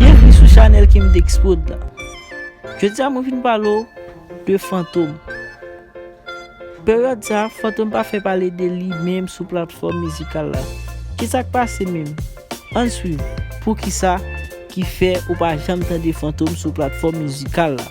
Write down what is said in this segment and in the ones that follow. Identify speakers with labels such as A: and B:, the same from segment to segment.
A: Byenvni sou chanèl Kimdex prod la Jodi a mwen vin pale w de Fantom Peryòd sa Fantom pa fè pale de li menm sou platfòm mizikal la Kisa k pase menm? Ann swiv Poukisa ki fè ou pa janm tande Fantom sou platfòm mizikal la?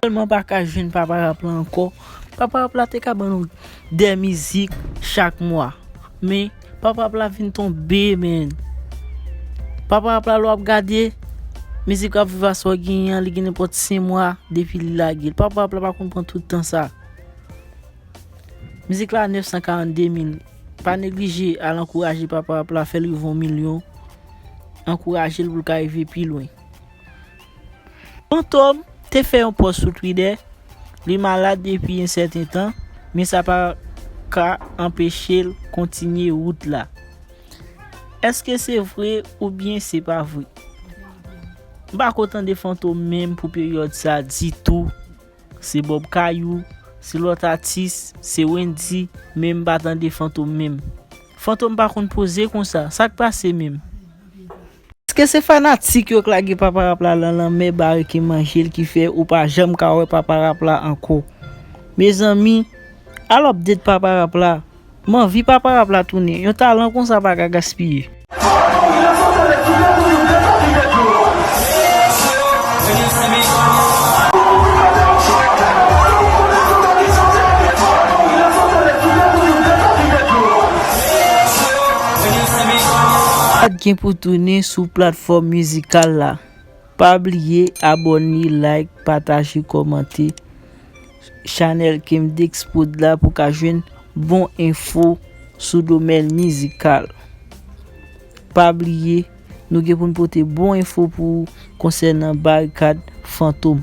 A: Telman paka jwenn papa rap la ankò, papa rap la te ka ban nou 2 mizik chak mwa men papa rap la vin tonbe menn papa rap la lè wap gade mizik rap viva sa w genyen an li gen nenpòt 5 mwa depi li lage l papa rap la pa konn pran tout tan sa mizik la a 942 mil pa neglije al ankouraje papa rap la fè l rive yon milyon ankouraje l pou l ka rive pi lwen. Fantom te fè yon pòs sou Twidè, li malad depi yon sèten tan, men sa pa ka anpeche l kontinye wout la. Eske se vre oubyen se pa vre? M pa ko tande Fantom menm pou peryòd sa ditou, se Bob Kayou, se lòt atis, se Wendy, men m pa tande Fantom menm. Fantom pa konn poze konsa, sa k pase menm? Eske se fanatik yo k lage papa rap la lan lanmè bare ke manjel ki fè ou pa janm ka wè papa rap la ankò mezanmi al update papa rap la m anvi papa rap la tounen yon talan konsa pa ka gaspiye. Sa gen pou tounen sou platfòm mizikal la. Pa bliye abòne, like, pataje, kòmante chanèl Kemdexprod la pou ka jwenn bon enfo sou domèn mizikal. Pa bliye nou gen pou n pote bon enfo pou ou konsènan Barikad Fantom.